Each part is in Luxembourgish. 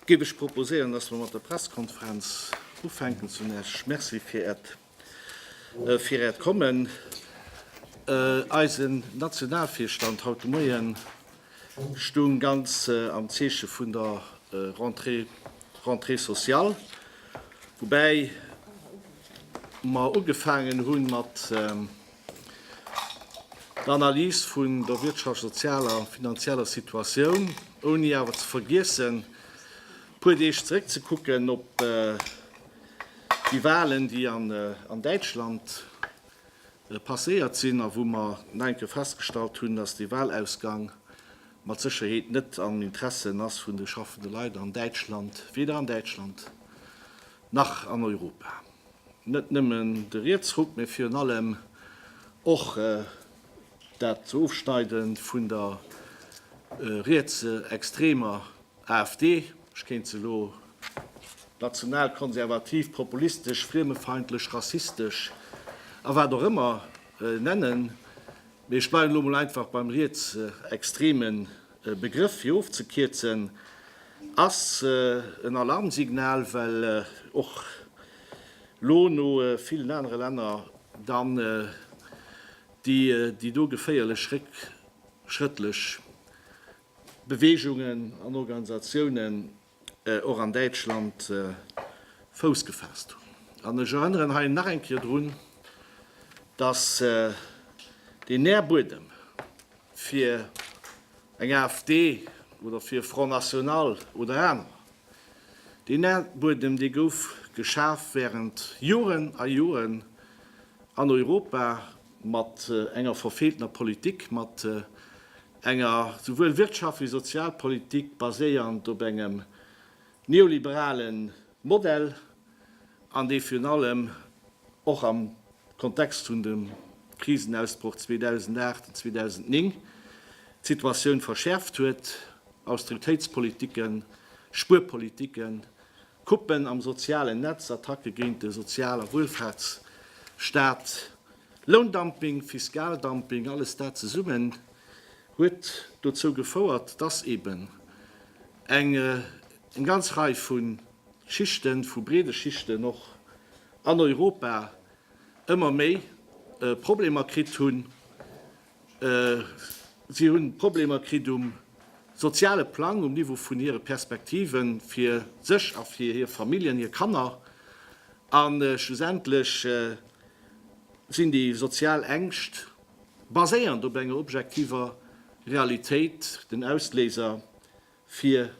Géif ech proposéieren, dass mer mat der Pressekonferenz ufänken. Zun Äerch Merci fir Äert, fir Äert Kommen. Eisen Nationalvirstand haut de Moien, Stoung ganz am Zeeche vun der Rentrée, Rentrée sociale, woubäi mer ugefaangen hu mat der Analys vun der wirtschafts-, sozialer a finanzieller Situatioun, ouni awer ze vergiessen e puer Deeg zeréckzekucken op déi Wahlen, déi an Däitschland passéiert sinn a wou mer nach eng Kéier festgestallt hunn, dass dee Wahlausgang mat Sécherheet net am Interessen ass vun de schaffende Leit an Däitschland, weder an Däitschland nach an Europa. Net nëmmen de Rietsruck, mä virun allem och dat Ofschneide vun der rietsextremer AfD, Ech kéint se elo nationalkonservativ, populistesch, friemefeindlech, rassistesch a wat och ëmmer nennen, mee ech bleiwen elo mol einfach beim rietsextreme Begrëff, fir ofzekierzen, ass en Alarmsignal, well och elo no villen anere Länner dann déi do geféierlech réckschrëttlech Beweegungen an Organisatiounen och an Däitschland Fouss gefaasst hunn. An ech erënneren hei nach eng Kéier drun, datt deen Nährbuedem fir eng AfD oder fir Front National oder anerer, deen Nährbuedem, dee gouf geschaf während Joren a Joren an Europa mat enger verfeeltener Politik, mat enger souwuel Wirtschaft wéi Sozialpolitik baséierend op engem neoliberale Modell, an dee virun allem och am Kontext vun dem Krisenausbroch 2008 an 2009 d'Situatioun verschäerft huet, Austeritéitspolitiken, Spuerpolitiken, Coupen am sozialen Netz, Attacke géint de Sozial a Wuelfaartsstaat, Loundumping, Fiskaldumping, alles dat zesummen huet dozou gefouert, dass eben eng ganz Rei vu Schichten, vu breede Schichten och an Europa ëmmer méi Problemer kritt hunn, Si hunn Problemer kritt um soziale Plang, um Niveau vun hire Perspektiven fir sech a fir hir Familljen, hir Kanner. A schlussendlech sinn déi sozial Ängscht, baséierend op enger objektiver Realitéit, den Ausléiser fir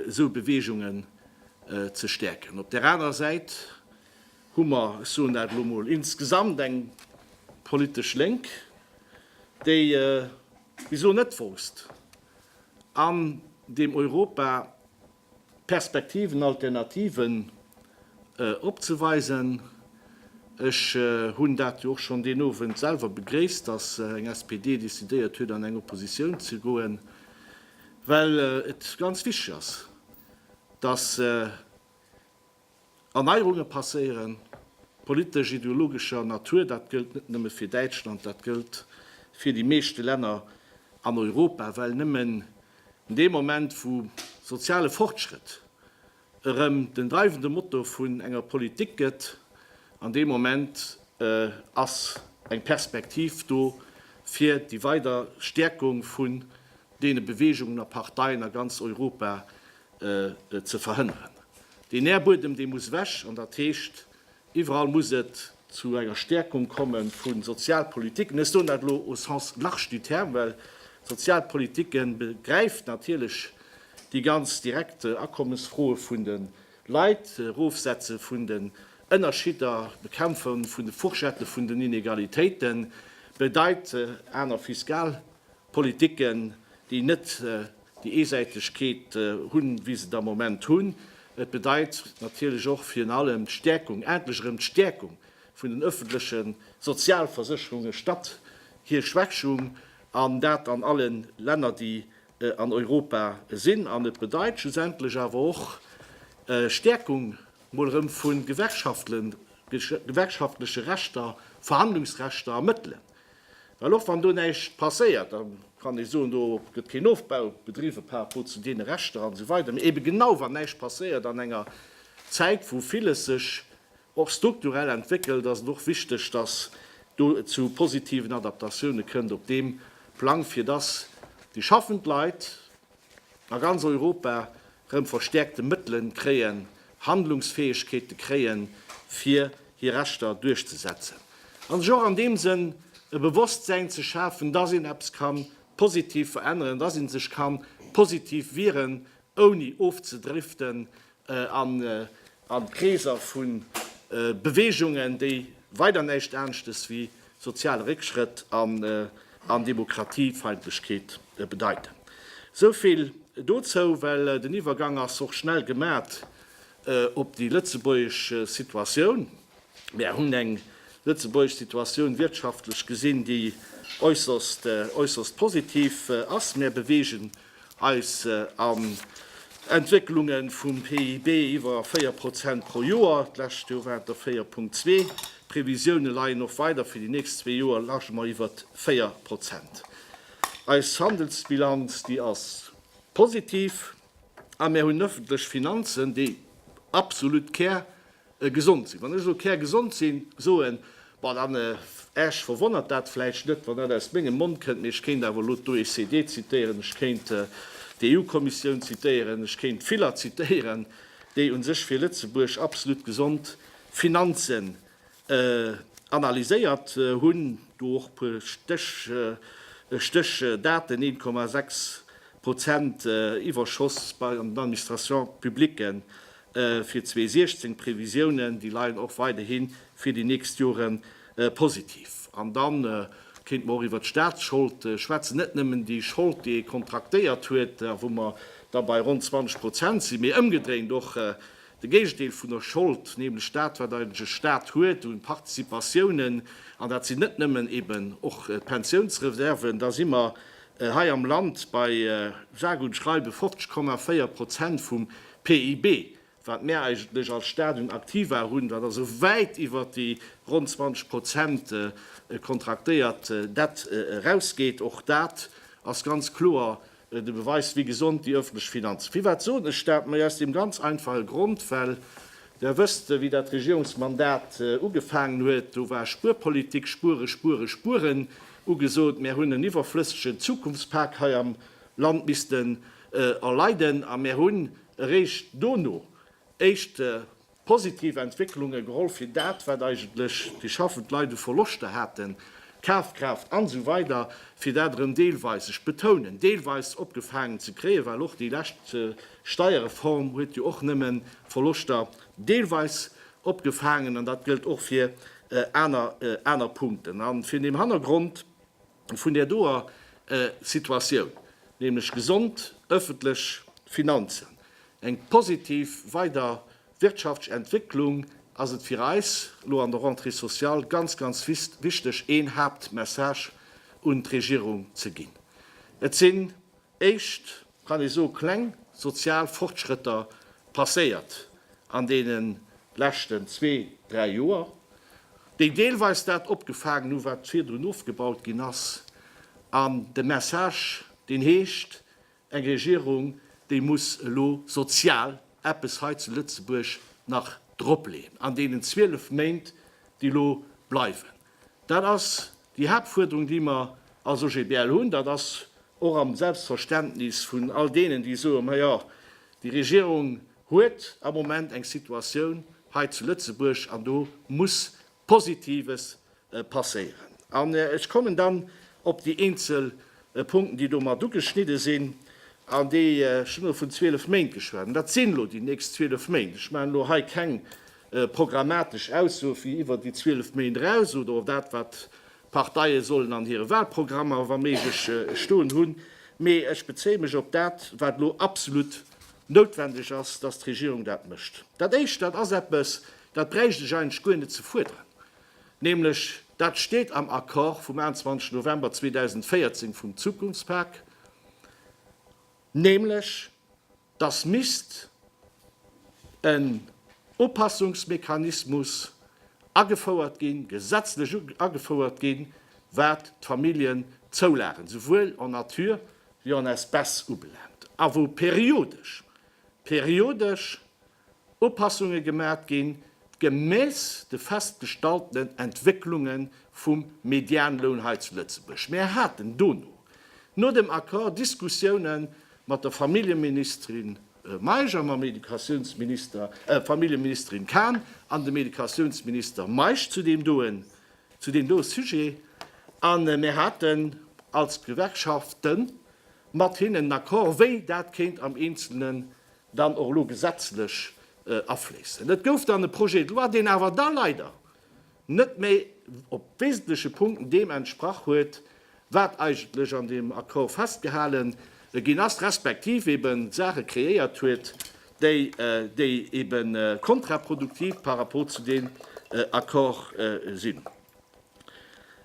esou Beweegungen ze stäerken. Op där anerer Säit hu mer, ech soen dat elo emol, insgesamt eng politesch Lénk, déi bis elo net wousst an deem Europa Perspektiven, Alternativen opzeweisen. Ech hunn dat jo och schonn deen Owend selwer begréisst, dass eng SPD decidéiert huet an eng Oppositioun ze goen, well et ganz wichteg ass, dass Erneierunge passéieren, politesch, ideologescher Natur. Dat gëllt net nëmme fir Däitschland, dat gëllt fir déi meeschte Länner an Europa, well nëmmen dee Moment, wou soziale Fortschrëtt erëm den dreiwende Motor vun enger Politik gëtt, an dee Moment ass eng Perspektiv do fir déi weider Stäerkung vun deene Beweegungen a Parteien a ganz Europa, ze verhënneren. Deen Nährbuedem, dee muss wech an dat heescht, iwwerall muss et zu enger Stärkung komme vu Sozialpolitiken. Ech soen dat elo au sens large du terme, well Sozialpolitike begräift natierlech déi ganz direkt Akommesfroe vun de Leit, Erofsetze vun den Ënnerschidder, Bekämpfe vun de Fourchette vun den Inegalitéiten, bedeit aner Fiskalpolitiken, déi net Déi Eesäitegkeet hunn, wéi se et am Moment hunn. Et bedeit natierlech och virun allem d'Stäerkung, endlech erëm d'Stäerkung vun den öffentleche Sozialversécherunge statt hir Schwächung, an dat an alle Länner, déi an Europa sinn. An et bedeit schlussendlech awer och Stäerkung mol erëm vu gewerkschaftleche Rechter, Verhandlungsrechter a Mëttelen. Well och wann do näischt passéiert, da kann ee soen, do gëtt keen Ofbau bedriwwen par rapport zu deene Rechter an esou weider, mee eebe genau wann näischt passéiert an enger Zäit wou villes sech och strukturell entwéckelt, ass et och wichteg, dass do et zu positiven Adaptatioune kënnt op deem Plang, fir dass déi schaffend Leit, A ganz Europa rëm verstäerkte Mëttelen kréien, Handlungsfäegkeete kréien, fir hir Rechter duerchzesetzen. An sech och an deem Sënn e Bewosstsäin ze schafen, dass een eppes ka positiv veränneren, dass ee sech ka positiv wieren, ouni ofzedriften an Kreeser vu Beweegungen, déi weider näischt aneschtes wéi soziale Réckschrëtt an Demokratiefeindlechkeet bedeiten. Esou vill dozou, well den Iwwergang ass och schnell gemat op déi lëtzebuergesch Situatioun. Mär hunn eng lëtzebuergesch Situatioun, wirtschaftlech gesinn, déi äusserst positiv ass. Mär beweegen Eis an Entwécklunge vum PIB iwwer 4 Prozent pro Joer, d'lescht Joer waren et der 4,2. D'Previsioune leien och weider, fir déi nächst zwee Joer lage mer iwwert 4 Prozent. Eis Handelsbilanz, déi ass positiv a mär hunn ëffentlech Finanzen, déi absolut Kär Gesond sinn. Wann ech elo kärgesond sinn, soen, Bon, dann, Äech verwonnert dat vläicht net, wann dat aus mengem Mond kënnt, mee ech kéint awer elo d'OECD zitéieren, ech kéint d'EU-Kommissioun zitéieren, ech kéint viller zitéieren, déi u sech fir Lëtzebuerg absolut gesond Finanzen analyséiert hunn, do och e puer Stéchdaten, 1,6 Prozent Iwwerschoss bei den Administrations publiques, Fir 2016, d'Previsiounen, déi leien och weiderhi fir déi nächst Jore positiv. An da kéinte mer och iwwert d'Statsschold schwätzen, net nëmmen déi Schold, déi ee kontraktéiert huet a wou mer da bei ronn 20 Prozent sinn, mee ëmgedréint och de Géigendeel vun der Schold, nämlech dat, wat eigentlech e Stat huet u Participatiounen, an dat sinn net nëmmen eben och d'Pensiounsreserven, da si mer hei am Land bei sage und schreibe 50,4 Prozent vum PIB, wat mär eigentlech als Stat un Aktiva hunn, wat also wäit iwwert déi ronn 20 Prozent kontraktéiert Dett erausgeet, och dat ass ganz kloer de Beweis, wéi gesond déi öffentlech Finanzen. Firwat soen ech dat? Majo, aus deem ganz einfache Grond, well Der wësst, wéi dat Regierungsmandat ugefaangen huet, do war Spuerpolitik, spueren, spueren, spueren ugesot. Mär hunn en iwwerflëssegen Zukunftspak hei am Land missten erleiden a mär hunn eréischt dono éischt positiv Entwécklunge geholl fir dat, wat eigentlech déi schaffend Leit u Verloschter haten, Kafkraaft an esou weider, fir dat erëm deelweis, ech betounen, deelweis opgefaangen ze kréien, well och déi lescht Steierreform huet jo och nëmme Verloschter deelweis opgefaangen an dat gëllt och fir aner Punkten. A vun deem Hannergrond vun där doer Situatioun, nämlech gesond ëffentlech Finanzen, eng positiv weider wirtschaftsch Entwécklung, ass et fir eis elo an der Rentrée sociale ganz, ganz wichteg, een Haaptmessage un d'Regierung ze ginn. Et sinn éischt, kann ee soe kleng sozial Fortschrëtter passéiert an deene leschten zwee, dräi Joer, déi deelweis dat opgefaangen hu wat virdrun ofgebaut ginn ass, an de Message deen heescht, eng Regierung déi muss elo sozial eppes hei zu Lëtzebuerg nach dropleeën an deenen 12 Méint déi elo bleiwen. Dat ass déi Haaptfuerderung, déi mer als OGBL hunn. Dat ass och am Selbstverständnis vun all deenen, déi soe, Ma jo, déi Regierung huet am Moment eng Situatioun hei zu Lëtzebuerg an do muss Positives passéieren. An ech kommen dann op déi eenzel Punkten, déi do mat ugeschnidde sinn. An déi, ech hunn elo vun 12 Méint geschwat, dat sinn elo déi nächst 12 Méint. Ech maachen elo hei keng programmatesch Ausso fir iwwer déi 12 Méint eraus oder och dat, wat d'Parteie sollen an hire Wahlprogrammer wa méiglech stoen hunn. Mee ech bezéie mech op dat, wat elo absolut noutwendeg ass, dass d'Regierung dat mécht. Dat Éischt, dat ass eppes, dat bräicht ech eigentlech guer net ze fuerderen, nämlech dat steet am Accord vum 21 November 2014 vum Zukunftspak, nämlech, dass misst en Upassungsmechanismus agefouert ginn, gesetzlech agefouert ginn, wat d'Familljenzoulagen, souwuel en nature wéi en espèces, ubelaangt a wou periodesch, periodesch! Upassunge gemat ginn, gemäss de festgestaltenen Entwécklunge vum Medianloun hei zu Lëtzebuerg. Mir haten dono, no dem Accord, Diskussioune mat der Familljeministerin Meisch a mam Educatiounsminister, Familljeministerin Cahn an dem Educatiounsminister Meisch zu deem doe, zu deem doe Sujet. A mir haten als Gewerkschafte mat hinnen en Accord, wéi dat kéint am Eenzelne dann och elo gesetzlech afléissen. Et gouf dann e Projet de loi, deen awer da leider net méi op wesentleche Punkten deem entsprach huet, wat eigentlech an deem Accord festgehalé ginn ass, respektiv eben Saache kreéiert huet, déi ebe kontraproduktiv par rapport zu deem Accord sinn.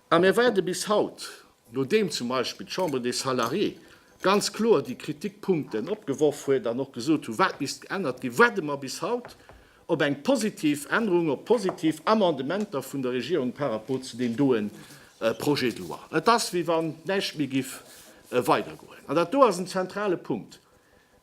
A mir waarde bis haut Nodeem zum Beispill d'Chambre des Salariés ganz kloer déi Kritikpunkten opgeworf huet an och gesot hu wat misst geännert ginn, waarde mer bis haut op eng positiv Ännerung, op positiv Amendementer vun der Regierung par rapport zu deem doe Projet de loi. Et ass wéi wann näischt méi giff weidergoen. An dat do ass en zentrale Punkt.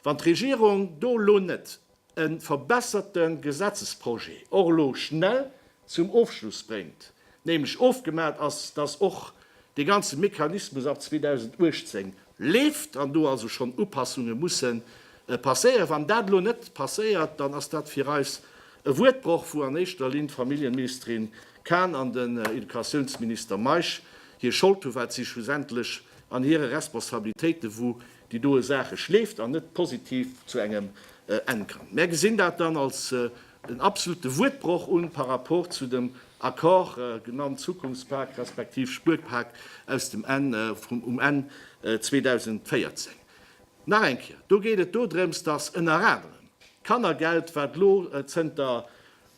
Wann d'Regierung do elo net e verbesserte Gesetzesprojet och elo schnell zum Ofschluss bréngt, nämlech ofgemaat ass, dass och dee ganze Mechanismus ab 2018 leeft an do also schonn Upassunge musse passéieren. Wann dat elo net passéiert, dann ass dat fir eis e Wuertbroch, wou an éischter Linn d'Familljenministerin Cahn an den Educatiounsminister Meisch hir Schold hunn, well si schlussendlech an hire Responsabilitéite wou déi doe Saache schleeft an net positiv zu engem Enn kann. Mär gesinn dat dann als en absolute Wuertbroch un par rapport zu dem Accord, genannt Zukunftspak respektiv Spuerpak, aus dem Enn vum um Enn 2014. Nach eng Kéier, do geet et dodrëms, dass ënner anerem d'Kannergeld, wat elo zënter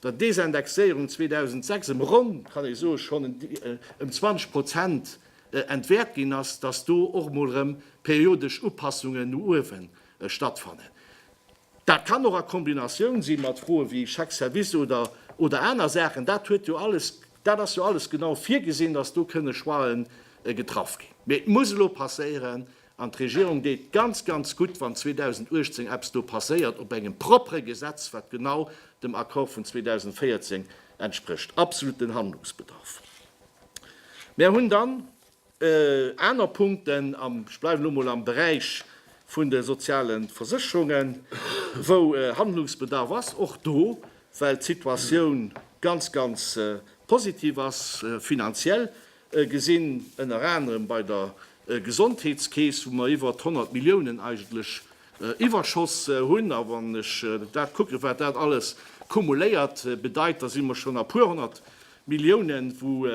der Desindexéierung 2006 ëm ronn, kann ee soe, schonn ëm 20 Prozent entwäert ginn ass, datt do och mol erëm periodesch Upassungen no uewe stattfannen. Dat kann och a Kombinatioun si mat Froe wéi Chèque service oder oder aner Saachen. Dat huet jo alles, dat ass jo alles genau virgesinn, datt do kënne Choixë getraff ginn. Mee et muss elo passéieren an d'Regierung deet ganz, ganz gutt, wann 2018 eppes do passéiert op engem proppere Gesetz, wat genau dem Accord vun 2014 entsprécht. Absoluten Handlungsbedarf! Mär hunn dann aner Punkten, ech bleiwen elo mol am Beräich vun de soziale Versécherungen, wou Handlungsbedarf ass, och do, well d'Situatioun ganz, ganz positiv ass, finanziell gesinn, ënner anerem bei der Gesondheetskeess, wou mer iwwert 100 Milliounen eigentlech Iwwerschoss hunn. A wann ech dat kucken, wat dat alles kumuléiert bedeit, da si mer schonn a puer honnert Milliounen, wou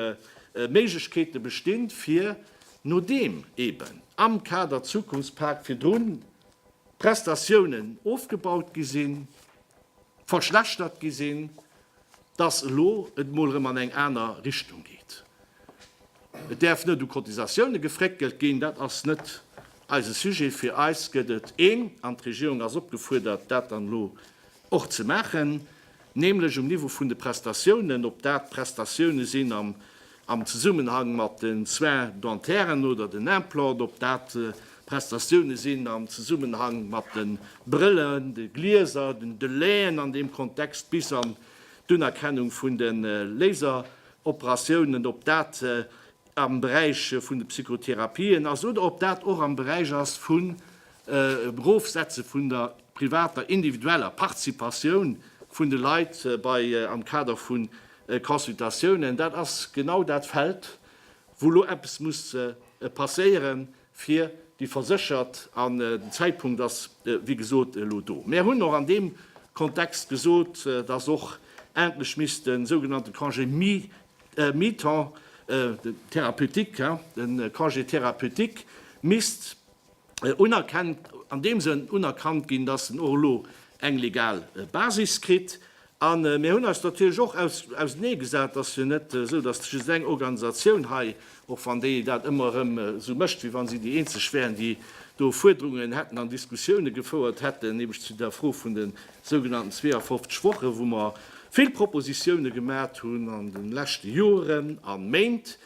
Méiglechkeete bestinn, fir nodeem eeben am Kader Zukunftspak virdrun d'Prestatiounen ofgebaut gi sinn, verschlechtert gi sinn, dass elo et emol erëm an eng aner Richtung geet. Et däerf net u Cotisatioune gefréckelt ginn, dat ass net eise Sujet. Fir eis gëtt et een, an d'Regierung ass opgefuerdert, dat dann elo Och ze maachen, nämlech um Niveau vun de Prestatiounen, ob dat Prestatioune sinn am Zesummenhang mat den Soins dentaires oder den Implant, ob dat Prestatioune sinn am Zesummenhang mat de Brëllen, de Glieser, den Delaien an deem Kontext bis an d'Unerkennung vun de Laseroperatiounen, ob dat am Beräich vun de Psychotherapien ass oder ob dat och am Beräich ass vum Erofsetze vun der privater, individueller Participatioun vun de Leit bei am Kader vu Consultatiounen. Dat ass genau dat Feld, wou elo eppes muss passéieren. fir déi Verséchert, an den Zäitpunkt ass wéi gesot elo do. Mär hunn och an deem Kontext gesot, dass och endlech misst de sougenannte Congé mi-temps, den thérapeutique, den Congé thérapeutique misst unerkennt, an deem Sënn unerkannt ginn, dass en och elo eng legal Basis kritt, A mir hunn eis natierlech och auseneegesat, dass jo net esou, dass just eng Organisatioun hei, och wann déi dat ëmmer erëm esou mécht, wéi wa si déi eenzeg wären, déi do Fuerderungen hätten an Diskussioune gefouert hätten, nämlech zu der Fro vun de sougenannten 52 Wochen, wou mer vill Propositioune gemat hunn an de leschte Joren a Méint,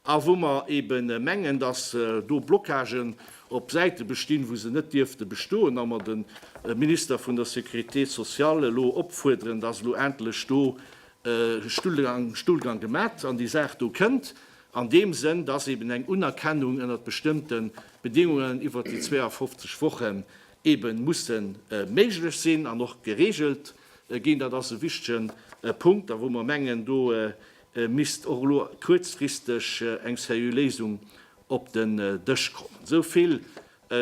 a wou mer eebe mengen, dass do Blockagen op Säite bestinn, wou se net dierfte bestoen, a mer de Minister vun der Sécurité sociale elo opfuerderen, dass elo endlech do e Stullgang gemat an déi Saach do kënnt, an deem Sënn, dass eeben eng Unerkennung ënnert bestëmmte Bedingungen iwwert déi 52 Wochen eebe musse méiglech sinn an och geregelt ginn. Dat ass e wichtegen Punkt a wou mer mengen, do misst och elo kuerzfristeg eng seriö Léisung op den Dësch kommen. Esou vill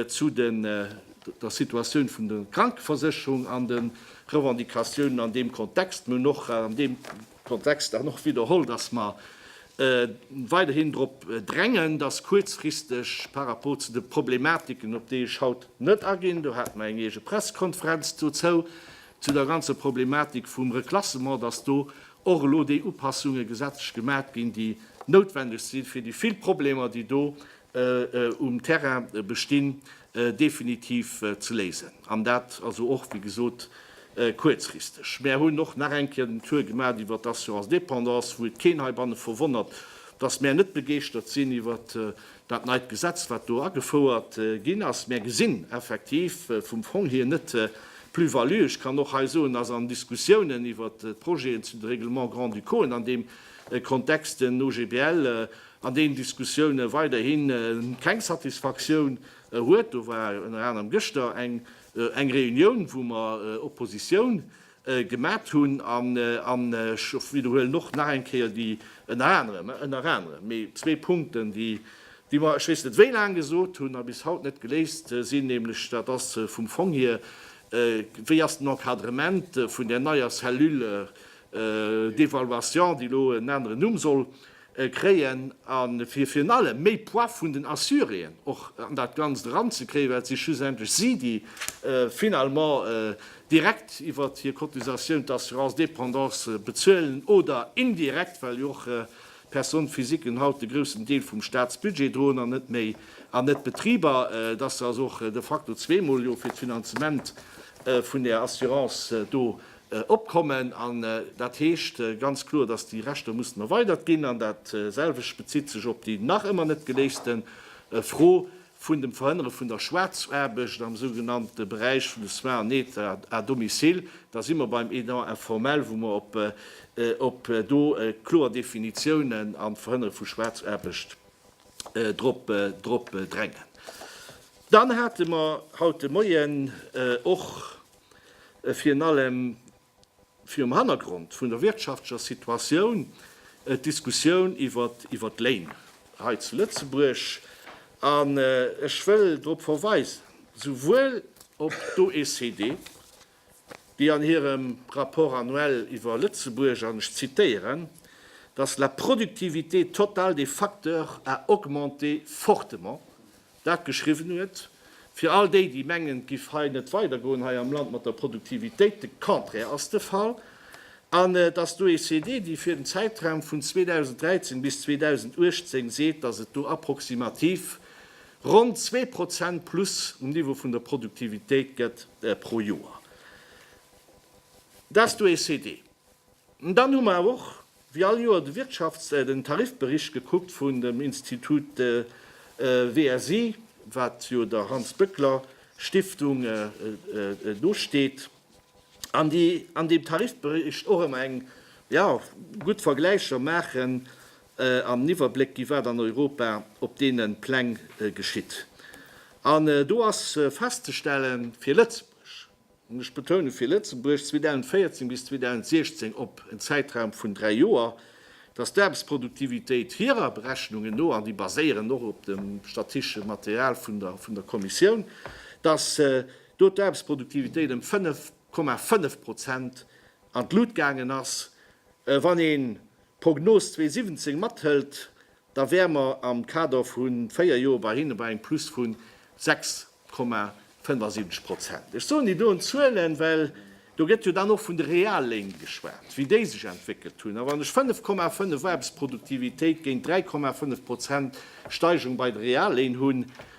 zu der Situatioun vun der Krankeversécherung an de Revendicatiounen an deem Kontext. Mir hunn och an deem Kontext dann och widderholl, datt mer weiderhin drop drängen, datt kuerzfristeg par rapport zu de Problematiken, op déi ech haut net aginn, do hate mer eng eege Pressekonferenz dozou, Zu der ganzer Problematik vum Reklassement, dass do och elo déi Upassunge gesetzlech gemat ginn, déi noutwendeg si fir déi vill Problemer, déi do um Terrain bestinn, definitiv ze léisen. An dat also och, wéi gesot, kuerzfristeg. Mär hunn och nach eng Kéier den Tour gemat iwwert d'Assurance dépendance, wou et keen heibanne verwonnert, dass mär net begeeschtert sinn iwwert Dat neit Gesetz, wat do agefouert ginn ass, mär gesinn effektiv vum Fong hier net d'Plus-value. Ech kann och hei soen, dass an Diskussiounen iwwert d'Projeten zu de Règlements grand-ducauxen an deem Kontext den OGBL an deenen Diskussioune weiderhi keng Satisfaktioun huet. Do war ënner anerem gëschter eng Reunioun, wou mer Oppositioun gemat hunn an ech widderhuelen och nach eng Kéier déi, ënner anerem, ënner anerem, mee zwee Punkten, déi mer, ech weess net wéi laang, gesot hunn a bis haut net geléist sinn, nämlech dat ass vum Fong hier, wéi ass den Encadrement vun där neier Cellule d'évaluation, déi elo en aneren Numm soll kréien a virun allem méi Poids vun den Assuréen och an dat Ganzt eranzekréien, well et si schlussendlech si, déi finalement direkt iwwert hir Cotisatioun d'assurance dépendance bezuelen oder indirekt, well jo och d'Personne physiquen haut de groussen Deel vum Statsbudget droen an net méi an net d'Betriber, dass se also och de facto zweemol jo fir d'Finanzement vun där Assurance do Opkommen, an dat heescht ganz kloer, datt déi Rechter mussen erweidert ginn, an dat selwecht bezitt sech op déi nach ëmmer net geléiste Fro vun dem Verhënnere vun der Schwaarzaarbecht am sougenannte Beräich vun de Soins en aide à domicile. Da si mer beim aidant informel, wou mer op do kloer Definitiounen an d'Verhënnere vu Schwaarzaarbecht drop drängen. Dann hate mer haut de Moien och Virun allem virum Hannergrond vun der wirtschaftlecher Situatioun, d'Diskussioun iwwert d'Léin hei zu Lëtzebuerg. An ech wëll drop verweisen, souwuel op d'OECD, déi an hirem Rapport annuel iwwer Lëtzebuerg, an ech zitéieren, dass la productivité totale des facteurs a augmenté fortement dat geschriwwen huet, fir all déi, déi mengen, et giff hei net weidergoen hei am Land mat der Produktivitéit, de Contraire ass de Fall, an dass d'OECD, déi fir den Zäitraum vun 2013 bis 2018 seet, dass et do approximativ ronn zwee Prozent plus um Niveau vun der Produktivitéit gëtt pro Joer, dass d'OECD. Dann hu mer och wéi all Joer de Wirtschafts-, den Tarifbericht gekuckt vun dem Institut WSI, wat jo der Hans-Böckler-Stiftung nosteet, an déi an deem Tarifbericht och ëmmer eng, jo, gutt Vergläicher maachen an en Iwwerbléck ginn, wat an Europa op deene Pläng geschitt. An do ass festzestellen, fir Lëtzebuerg, an ech betoune fir Lëtzebuerg, 2014 bis 2016 op en Zäitraum vun dräi Joer, datt d'Aarbechtsproduktivitéit hirer Berechnungen no, an déi baséieren och op dem statische Material vun der Kommissioun, datt do d'Aarbechtsproduktivitéit ëm 5,5 Prozent an d'Lut gaangen ass. Wann ee d'Prognos 2017 mathëlt, da wäre mer am Kader vu véier Joer bei hinne bei engem Plus vu 6,75 Prozent. Ech soen déi doen Zuelen, well do gëtt jo dann och vun de Realléin geschwat, wéi déi sech entwéckelt hunn. A wann ech 5,5 Aarbechtsproduktivitéit géint 3,5 Prozent Steigerung bei de Realléin hunn,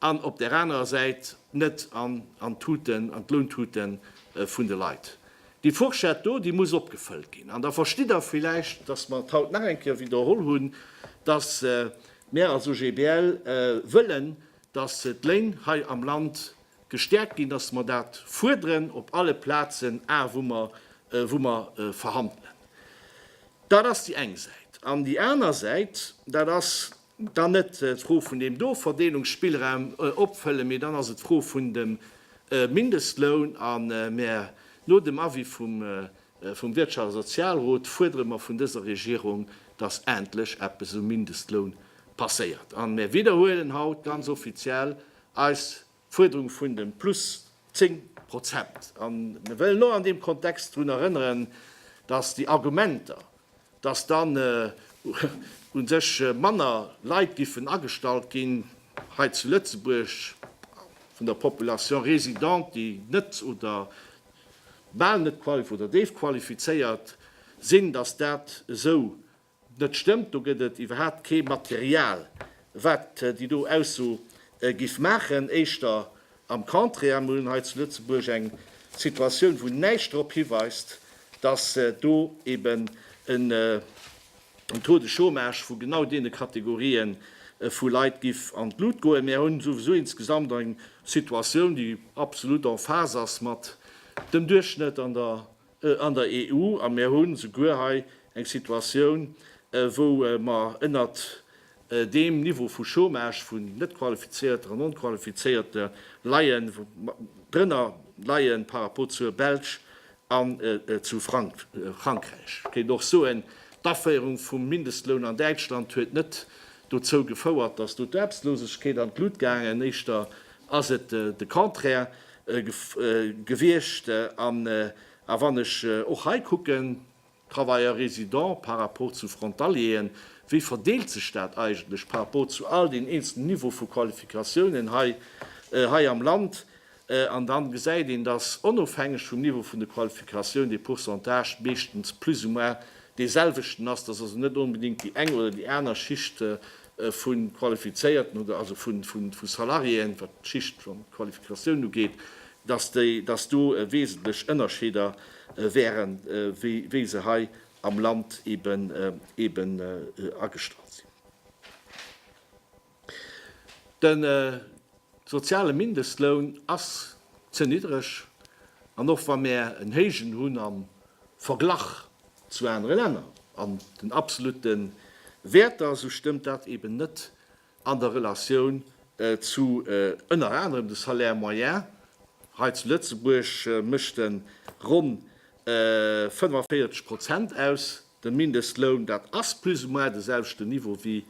an op där anerer Säit net an an d'Tuten, an d'Lountute vun de Leit. Déi Fourchette do, déi muss opgefëllt ginn. An da verstitt Der villäicht, dass mer et haut nach eng Kéier widderholl hunn, dass mär als OGBL wëllen, dass d'Léin hei am Land gestäerkt ginn, dass mer dat fuerderen op alle Plazen, a wou mer, wou mer verhandelen. Dat ass déi eng Säit. An déi aner Säit, dat ass Dann net d'Fro vun deem do Verdeelungsspillraum opfëllen, mee dann ass et d'Fro vun dem Mindestloun. A mer, no dem Avis vum Wirtschafts a Sozialrot, fuerdere mer vun dëser Regierung, dass endlech eppes um Mindestloun passéiert. A mer widderhuelen haut ganz offiziell eis Fuerderung vun de plus 10 Prozent. A mir wëllen och an deem Kontext drun erënneren, dass déi Argumenter, dass dann u sech manner Leit géifen agestallt ginn hei zu Lëtzebuerg vun der Population résidente, déi net oder bal net oder déifqualifizéiert sinn, dass dat esou net stëmmt, do gëtt et iwwerhaapt kee Material wat déi do Ausso giff maachen, éischter am Contraire. Mir hunn hei zu Lëtzebuerg eng Situatioun wou näischt drop hiweist, datt do eben en Taux de Chômage vu genau deene Kategorië vu Leit giff an d'Lut goen. Mir hunn souwisou insgesamt eng Situatioun déi absolut en phase ass mat dem Duerchschnëtt an der an der EU, a mir hu souguer hei eng Situatioun, wou mer ënnert deem Niveau vu Chômage vun Net-Qualifizierter an Non-Qualifizéierte leien, drënner leie par rapport zur Belsch an zu Frankräich. Et kéint och soen, d'Aféierung vum Mindestloun an Däitschland huet net dozou gefouert, dass do d'Aarbechtslosegkeet an d'Lut gaangen, éischter ass et de Contraire. gewiescht an a wann ech och hei kucken, Travailleurs résidents par rapport zu Frontalieren, wéi verdeelt sech dat eigentlech par rapport zu all den eenzelnen Niveau vu Qualifikatiounen hei hei am Land? An da gesäit een, dass onofhängeg vum Niveau vun de Qualifikatioun de Pourcentage meeschtens plus ou moins deeselwechten ass, dass also net onbedéngt déi eng oder déi aner Schicht vu Qualifizéierten oder also vu Salariéen, wat d'Schicht an d'Qualifikatioun ugeet, dass do wesentlech Ënnerscheeder wäre wéi se hei am Land eben agestallt sinn. Soziale Mindestloun ass ze niddreg, an och wa mär en héijen hunn am Verglach zu anere Länner an den absolute Wäerter, sou stëmmt dat eben net an der Relatioun zu ënner anerem de Salaire moyen. Hei zu Lëtzebuerg mécht en ronn 45 Prozent aus. De Mindestloun, dat ass plus ou moins de selwechten Niveau wéi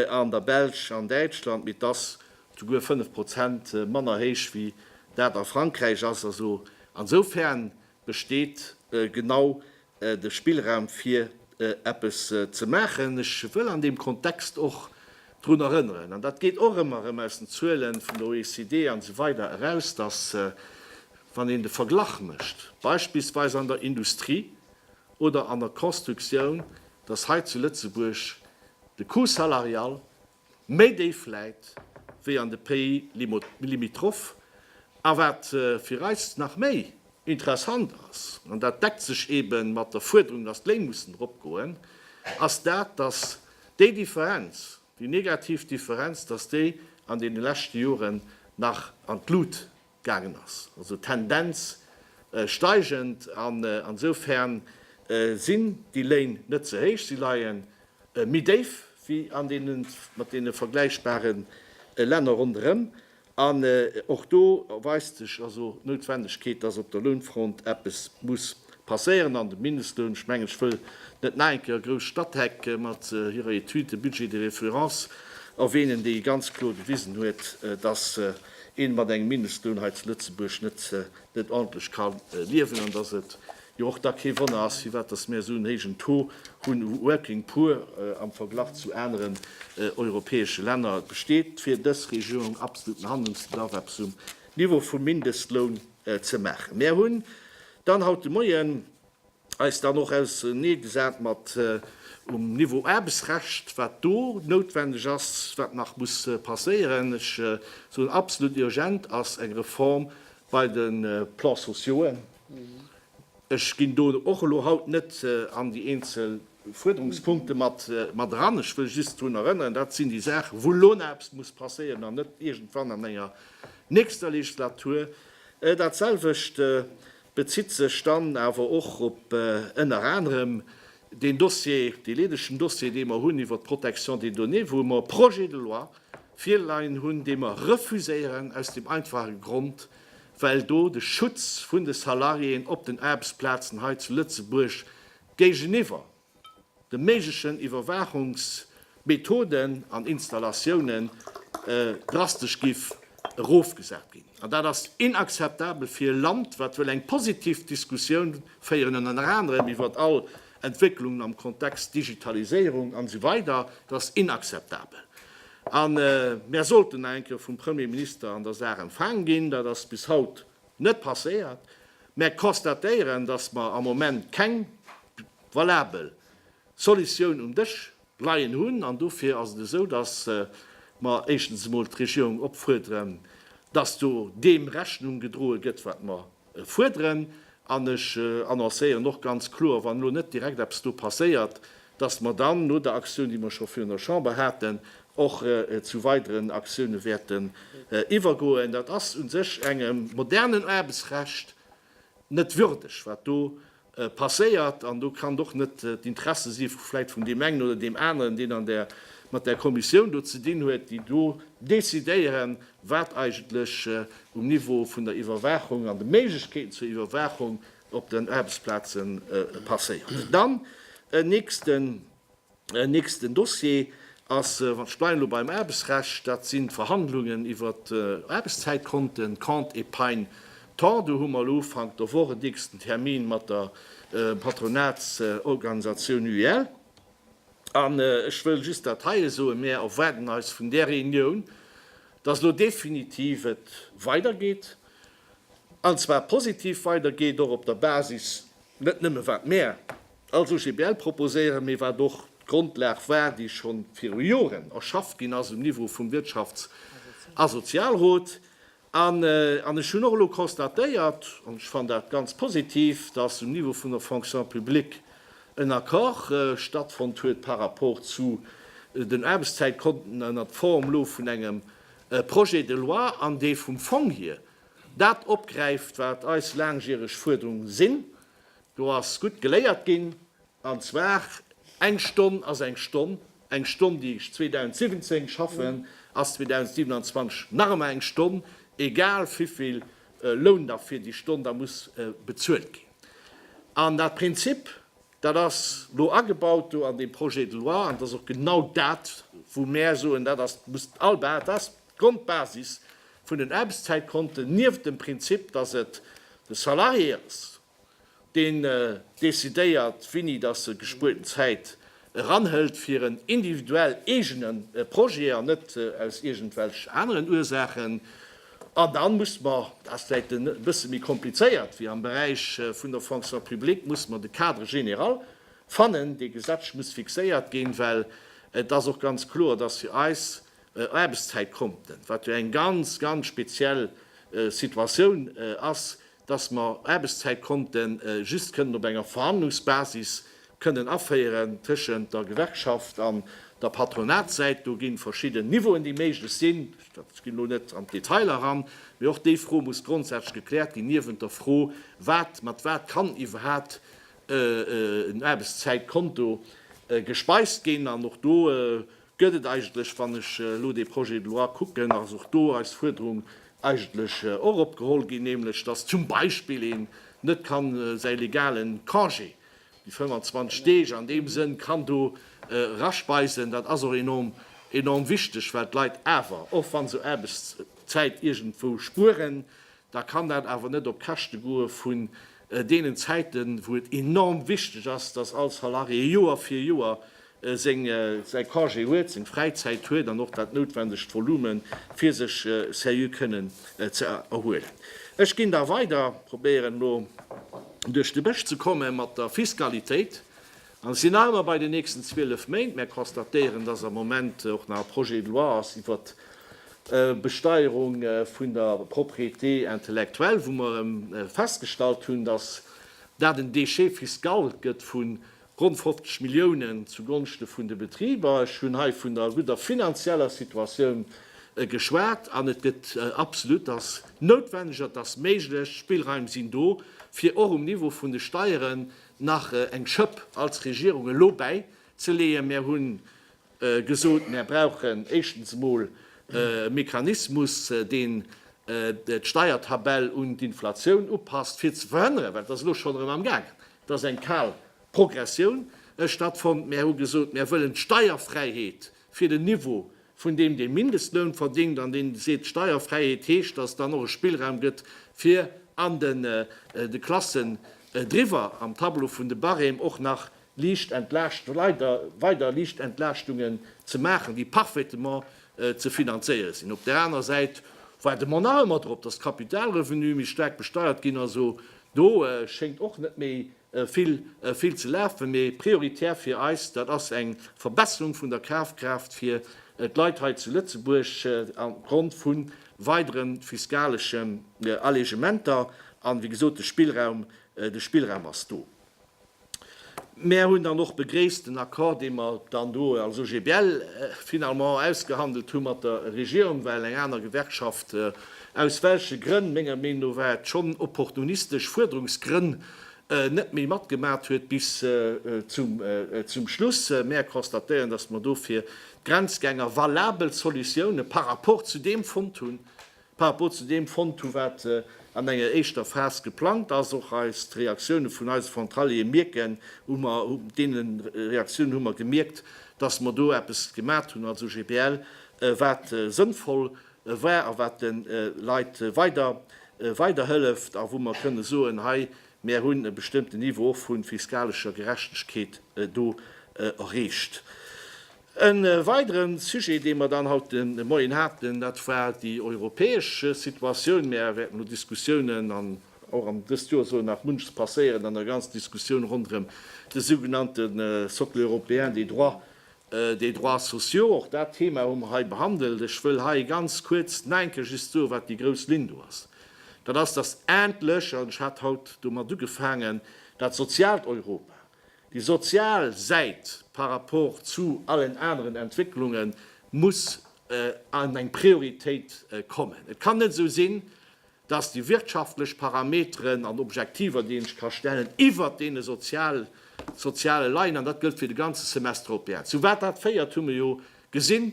an der Belsch an Däitschland, mee et ass souguer 5 Prozent manner héich wéi dat a Frankräich ass. Also ansoufern besteet genau de Spillraum fir eppes ze maachen. Ech wëll an deem Kontext och drun erënneren, an dat geet och ëmmer erëm aus den Zuele vun der OECD an esou weider eraus, dass wann een de Verglach mécht beispillsweis an der Industrie, oder an der Constructioun, dass hei zu Lëtzebuerg de Coût salarial méi déif läit wéi an de Pays limitrophes. A wat fir eis nach méi interessant ass, an dat deckt sech eebe mat der Fuerderung, dass d'Léin mussen eropgoen, ass dat, dass déi Differenz, déi negativ Differenz, dass déi an deene leschte Joren nach an d'Lut gaangen ass, also Tendenz steigend, an ensoufern sinn déi Léin net ze héich, si leie méi déif wéi an deene mat deene vergläichbare Länner ronderëm. An och do erweist sech also d'Noutwendegkeet, dass op der Lounfront eppes muss passéieren. An de Mindestloun, ech mengen, ech wëll net nach eng Kéier grouss Statec mat hirer Étude de budget de référence erwähnen, déi ganz kloer gewisen huet, dass een mat engem Mindestloun hei zu Lëtzebuerg net net ordentlech ka liewen an dass et jo och da kee Wonner ass, firwat dass mir esou en héijen Taux hunn u working poor am Verglach zu aneren europäesche Länner. Et besteet fir dës Regierung absoluten Handlungsbedarf, eppes um Niveau vum Mindestloun ze maachen. Mir hunn dann haut de Moien eis dann och ausernee gesat mat um Niveau Aarbechtsrecht, wat do noutwendeg ass, wat nach muss passéieren. Ech soen, absolut urgent ass eng Reform bei de Plans sociauxen. Ech ginn do och elo haut net an déi eenzel Fuerderungspunkte mat eran. Ech wëll just drun erënnern, dat sinn déi Saachen, wou elo nach eppes muss passéieren an net iergendwann an enger nächster Legislatur. Dat selwecht bezitt sech dann awer och op ënner anerem deen Dossier, dee leedegen Dossier, dee mer hunn iwwert d'Protection des données, wou mer e Projet de loi virleien hunn, dee mer refuséieren aus deem einfache Grond, well do de Schutz vun de Salariéen op den Aarbechtsplazen hei zu Lëtzebuerg géigeniwwer, de méiglechen Iwwerwaachungsmethoden an Installatiounen drastesch giff erofgesat ginn. An dat ass inakzeptabel fir e Land, wat wëll eng positiv Diskussioun féieren, ënner anerem iwwert all Entwécklungen am Kontext Digitaliséierung an esou weider. Dat ass inakzeptabel. A mär sollten nach eng Kéier vum Premier Minister an der Saach empfaang ginn. Dat ass bis haut Net passéiert, mä constatéieren, datt mer am Moment keng valabel Solutioun um Dësch leien hunn. An dofir ass et esou, datt mer éischtens emol d'Regierung opfuerderen, datt do deem Rechnung gedroe gëtt, wat mer fuerderen. An ech annoncéieren och ganz kloer, wann elo net direkt eppes do passéiert, dass mer dann no der Aktioun, déi mer scho virun der Chamber haten, och zu weideren Aktioune wäerten iwwergoen. Dat ass u sech engem modernen Aarbechtsrecht net würdeg, wat do passéiert. An do kann och net d'Interesse si vläicht vun deem engen oder deem aneren, deen an där, mat där Kommissioun do ze dinn huet, déi do decidéieren, wat eigentlech um Niveau vun der Iwwerwaachung an de Méiglechkeeten zur Iwwerwaachung op den Aarbechtsplaze passéiert. Dann en nächsten Dossier ass, ech bleiwen elo beim Aarbechtsrecht, dat sinn d'Verhandlungen iwwer d'Aarbechtszäitkonten, Compte épargne temps. Do hu mer elo Ufank der Woch en nächsten Termin mat der Patronatsorganisatioun UIL. An ech wëll just dat heie soen, Mir erwaarden eis vun där Reunioun, dass elo definitiv et weidergeet. An zwar positiv weider geet, och op der Basis net nëmme wat mär als OGBL proposéieren, mee wat och d'Grondlag war, déi scho viru Joren erschafft ginn ass um Niveau vum Wirtschafts a Sozialrot. An ech hunn och elo constatéiert, an ech fannen dat ganz positiv, dass um Niveau vun der Fonction publique en Accord stattfonnt huet par rapport zu den Aarbechtszäitkonten ënnert Form elo vun engem E Projet de loi an dee vum Fong hier dat opgräift wat eis laangjäreg Fuerderung sinn. Do ass gutt geléiert ginn, an zwar, eng Stonn ass eng Stonn. Eng Stonn déi ech 2017 schaffen ass 2027 nach ëmmer eng Stonn, egal vivill Loun da fir déi Stonn da muss bezuelt ginn. An dat Prinzip, Dat ass elo agebaut do an deem Projet de loi an et ass och genau dat, wou mär soen, dat ass, muss all, dat ass d'Grondbasis vun den Aarbechtszäitkonten, nieft dem Prinzip, dass et de Salarié ass, deen decidéiert, wini dass e gespuerten Zäit eranhëlt fir en individuell eegene Projet an net aus iergendwelch aneren Ursaachen. An dann muss mer, dat ass vläicht e bësse méi komplizéiert wéi am Beräich vun der Fonction publique, muss mer de Cadre général fannen, dee gesetzlech muss fixéiert ginn, well et ass och ganz kloer, dass fir eis Aarbechtszäitkonten, wat jo eng ganz, ganz speziell Situatioun ass, dass mer Aarbechtszäit konnte just kënnen op enger Verhandlungsbasis kënnen aféieren tëschent der Gewerkschaft an der Patronatssäit. Do gi verschidden Niveauen, déi méiglech sinn. Ech ginn elo net an d'Detailer eran, mee och déi Fro muss grondsätzlech gekläert ginn, niewent der Fro, wat mat wat kann iwwerhaapt en Aarbechtszäitkonto gespeist ginn. An och do gëtt et eigentlech, wann ech elo dee Projet de loi kucken, ass och do eis Fuerderung eigentlech och opgeholl ginn, nämlech dass zum Beispill een net ka säi legalen Congé, déi 25 Deeg, an deem Sënn kann do eraspeisen. Dat ass och enorm, enorm wichteg, well d'Leit awer, och wa se Aarbechtszäit iergendwou spueren, da kann dat awer net op Käschte goe vun deenen Zäiten, wou et enorm wichteg ass, dass all Salarié Joer fir Joer säi Congé huet, seng Fräizäit huet an och dat noutwendegt Volume fir sech seriö kënnen ze erhuelen. Ech ginn da weider, probéieren elo duerch de Bësch ze komme mat der Fiskalitéit, An et sinn aner bei den nächsten 12 Méint. Mär konstatéieren, dass am Moment och nach e Projet de loi ass iwwert d'Besteierung vun der Propriété intellectuelle, wou mer festgestallt hunn, dass dat en Déchet fiscal gëtt vu ronn 50 Milliounen zugonschte vun de Betriber. Ech hunn hei vun der gudder finanzieller Situatioun geschwat an et gëtt absolut, dass noutwenneg, et ass méiglech, d'Spillraim sinn do, fir och um Niveau vun de Steieren nach eng Schëpp als Regierung elo bäi ze leeën. Mär hu gesot, mär brauchen éischtens emol e Mechanismus, deen d'Steiertabell un d'Inflatioun upasst, fir ze verhënneren, well et ass elo schonn erëm am gaangen, dass eng kal Progressioun stattfonnt. Mär hu gesot, mär wëllen d'Steierfräiheet fir den Niveau vun deem dee Mindestloun verdéngt an deen seet Steierfräiheet heescht, datt dann och e Spillraum gëtt fir an de Klassen driwwer am Tableau vun de Barème och nach liicht entlaascht weider liicht Entlaaschtungen ze maachen, déi parfaitement ze finanzéiere sinn. Op där aner Säit waarde mer nach ëmmer drop, datt d'Kapitalrevenue méi staark besteiert ginn. Also do schéngt och net méi Vill, vill ze lafen, mee prioritär fir eis, dat ass eng Verbesserung vun der Kafkraaft fir d'Leit hei zu Lëtzebuerg opgrond vu weidere fiskaleschen Allegementer. An, wéi gesot, de Spillraum, de Spillraum ass do. Mär hunn dann och begréisst den Accord, dee mer dann do als OGBL finalement ausgehandelt hu mat der Regierung, well eng aner Gewerkschaft, aus welche Grënn, menger Meenung no war et schonn opportunistesch Fuerderungsgrënn, net méi matgemat huet bis zum Schluss. Mäer constatéieren, dass mer dofir d'Grenzgänger valabel Solutiounen par rapport zu deem fonnt hunn, par rapport zu deem fonnt hunn, wat an enger éischter Phas geplangt ass. Och eis, d'Reaktioune vun eise Frontaliere mierken, hu mer, deene Reaktiounen hu mer gemierkt, dass mer do eppes gemat hunn als OGBL, wat sënnvoll war a wat de Leit weiderhëlleft a wou mer kënne soen, hei mär hunn e bestëmmten Niveau och vu fiskalescher Gerechtegkeet do erreecht. E weidere Sujet, dee mer dann haut de Moien haten, dat war déi europäesch Situatioun. Mär wäerten elo Diskussiounen, an och an dëst Joer soll nach munches passéieren an der ganzer Diskussioun ronderëm de sougenannte Socle européen des droits Des droits sociaux, och dat Thema hu mer hei behandelt. Ech wëll hei ganz kuerz neienke just soen, wat déi grouss Linn do ass. Dat ass, dass endlech, an ech hat haut domat ugefaangen, dat soziaalt Europa, déi sozial Säit par rapport zu allen aneren Entwécklunge muss an eng Prioritéit kommen. Et kann net esou sinn, dass déi wirtschaftlech Parameteren an Objektiver, déi een sech ka stellen, iwwert deene sozial, soziale leien, an dat gëllt fir de ganze Semestre européen. Zu wat dat féiert, hu mir jo gesinn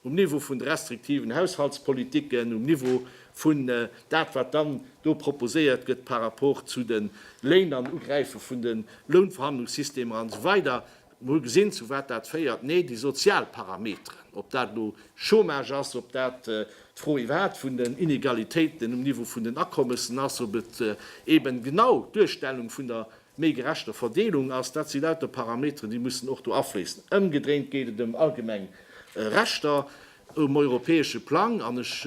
um Niveau vun de restriktiven Haushaltspolitiken, um Niveau vun dat, wat dann do proposéiert gëtt par rapport zu de Léin an Ugräife vun de Lounverhandlungssystemer an esou weider. Mir hu gesinn, zu wat dat féiert. Nee, déi sozial Parameteren, ob dat elo Chômage ass, ob dat d'Fro iwwerhaapt vun den Inegalitéiten um Niveau vun den Akommessen ass, ob et eeben genau d'Duerstellung vun der méi gerechter Verdeelung ass, dat si lauter Parameteren, déi mussen och do afléissen. Ëmgedréint geet et ëm allgemeng Rechter um europäesche Plang. An ech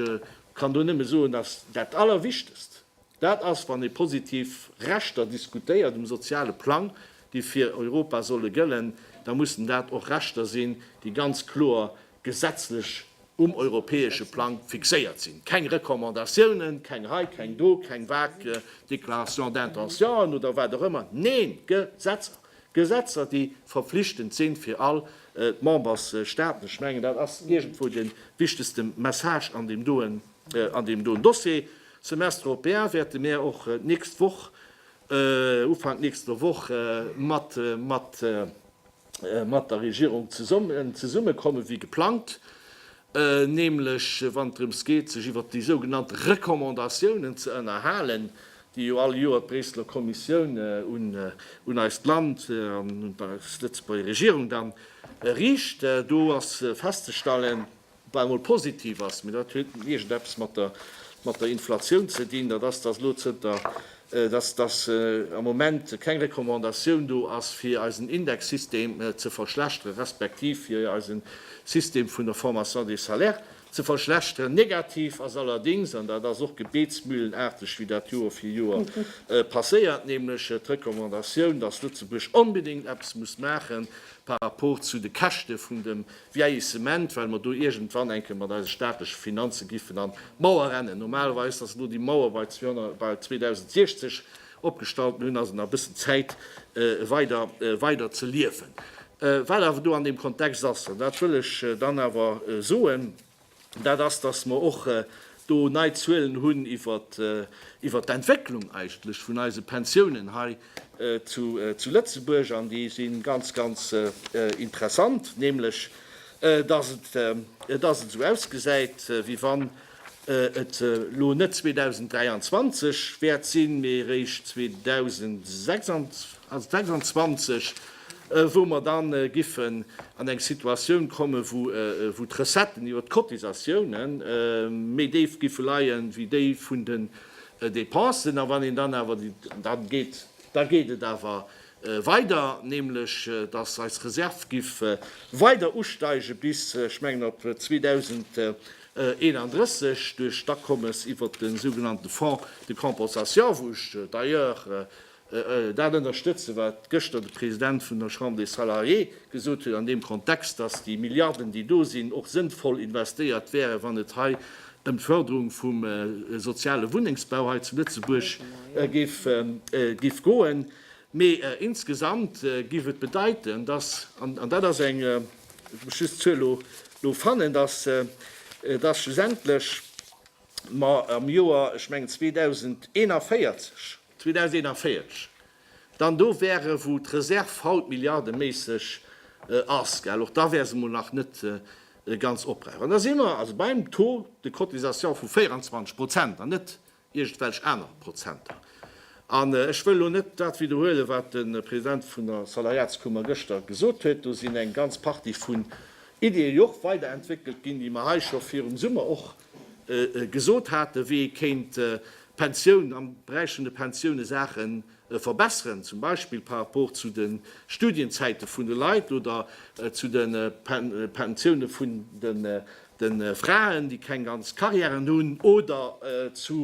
kann do nëmme soen, dass dat Allerwichtegst, Dat ass, wann ee positiv Rechter diskutéiert um soziale Plang, déi fir Europa solle gëllen, da mussen dat och Rechter sinn, déi ganz kloer gesetzlech um europäesche Plang fixéiert sinn. Keng Recommandatiounen, keng hei, keng do, keng vague Déclarations d'intentions oder wat och ëmmer, neen, Gesetzer! Gesetzer, déi verpflichtend sinn fir all d'Membersstaaten. Ech mengen, dat ass iergendwou de wichtegste Message an deem doen Dossier. Semestre européen wäerte mär och d'nächst Woch, Ufank nächster Woch mat, mat, mat der Regierung zesummen, zesummekommen wéi geplangt, nämlech wann et drëms geet sech iwwert déi sougenannte Recommandatiounen ze ënnerhalen, déi jo all Joer d'Bréisseler Kommissioun un, un eist Land an un d'Lëtzebuerger Regierung dann riicht. Do ass festzestallen, bal emol positiv ass, mee dat huet iergendeppes mat der, mat der Inflatioun ze dinn, dat ass, dass elo zënter, dass, dass am Moment keng Recommandatioun do ass, fir eisen Indexsystem ze verschlechteren, respektiv fir eisen System vun der Formation des salaires ze verschlechteren. Negativ ass allerdings, an dat ass och gebetsmühlenarteg, wéi dat Joer fir Joer passéiert, nämlech d'Recommandatioun, dass Lëtzebuerg onbedéngt eppes muss maachen par rapport zu de Käschte vun dem Vieillissement, well mer do iergendwann enke mat eise staatleche Finanze giffen an d'Mauer rennen. Normalerweis ass elo déi Mauer bei 2060 opgestallt, mir hunn also nach e bëssen Zäit weider weider ze liewen. Wat awer do an deem Kontext ass, an dat wëll ech dann awer soen, dat ass, dass mer och do nei Zuelen hunn iwwert d'Entwécklung eigentlech vun eise Pensiounen hei zu Lëtzebuerg, an déi si ganz, ganz interessant, nämlech dass et esou ausgesäit, wéi wann et elo net 2023 wäert sinn, mee eréischt 2026. Also 26, wou mer da giffen an eng Situatioun kommen, wou d'Recetten iwwert d'Cotisatiounen méi déif giffe leien, wéi déi vun den Dépensen. A wann een dann awer déi, dann geet, da geet et awer weider, nämlech dass eis Reserve giff weider usteigen bis, ech mengen, op 2031 duerch d'Akommes iwwert de sougenannte Fonds de compensation, wou ech d'ailleurs Dat ënnerstëtze wat gëschter de President vun der Chambre des Salariés gesot huet an deem Kontext, datt déi Milliarden déi do sinn och sënnvoll investéiert wären, wann et hei ëm d'Fërderung vum soziale Wunnengsbau hei zu Lëtzebuerg géif goen. Mee insgesamt géif et bedeiten, datt, an dat ass eng, ech muss just d'Zuel elo fannen, datt schlussendlech mer am Joer, ech mengen 2041, 2041 dann do wäre wou d'Reserv haut milliardeméisseg ass, gell, och da wär se mol nach net ganz opbraucht. An da si mer also beim Taux de cotisation vu 24 Prozent an net iergendwelch aner Prozenter. An ech wëll elo net dat widderhuelen, wat de President vun der Salariatskummer gëschter gesot huet. Do sinn eng ganz Partie vun Ideeë jo och weiderentwéckelt ginn, déi mer hei scho virum Summer och gesot haten, wéi ee kéint d'Pensioun am Beräich vun de Pensioune Saache verbesseren, zum Beispill par rapport zu de Studienzäite vun de Leit oder zu de Pensioune vun de Fraen, déi keng ganz Carrièren hunn, oder zu